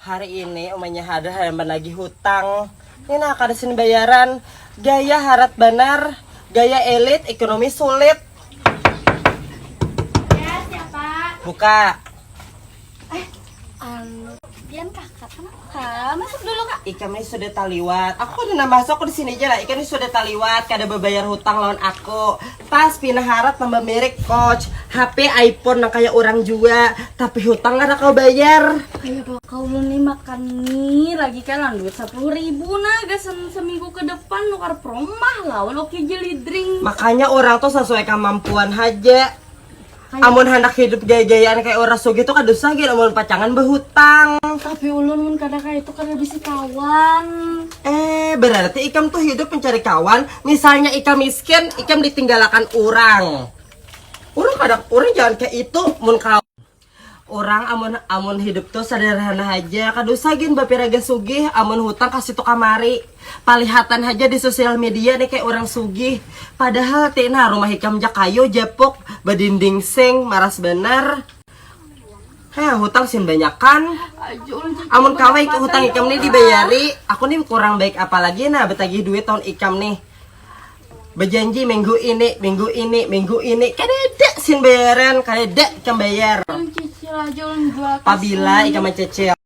Hari ini umanya hadir hayam banagih hutang. Ini nah kada sini bayaran. Gaya harat banar, gaya elit, ekonomi sulit. Ya siapa? Buka. Eh, anu, pian kakak kenapa? Masuk dulu kak. Ikam ini sudah taliwat. Aku kada nambah masuk di sini aja lah. Ikam ini sudah taliwat, kada babayar hutang lawan aku. Pas pina harat nambah merek koch, HP iPhone nang kaya urang jua, tapi hutang kada kawa bayar. Kaya baka ulun ni makan mie lagi kah lawan duit sapuluh ribu nah gasan seminggu ke depan nukar promah lawan oky jelly drink. Makanya urang tu sasuai kamampuan haja. Amun handak hidup jaya-jayaan kaya urang sugih tu kada usah gin amun pacangan behutang. Tapi ulun mun kada kaya itu kada bisi kawan. Eh, berarti ikam tu hidup mencari kawan, misalnya ikam miskin, ikam ditinggalakan urang. Urang kada, urang jangan kaya itu mun kawan. Urang amun amun hidup tu sederhana haja, kada usah gin bapiraga sugih, amun hutang kasitu kamari. Palihatan haja di sosial media nih kaya urang sugih, padahal te nah rumah ikam ja kayu japuk, badinding seng, maras banar. Heh hutang sin banyakan, amun kawa ik hutang ikam nih dibayari, aku nih kurang baik apa lagi nah batagih duit lawan ikam nih. Bajanji minggu ini, minggu ini, minggu ini, kadada sin bayaran, kadada ikam bayar. Pabila ikam mancicil.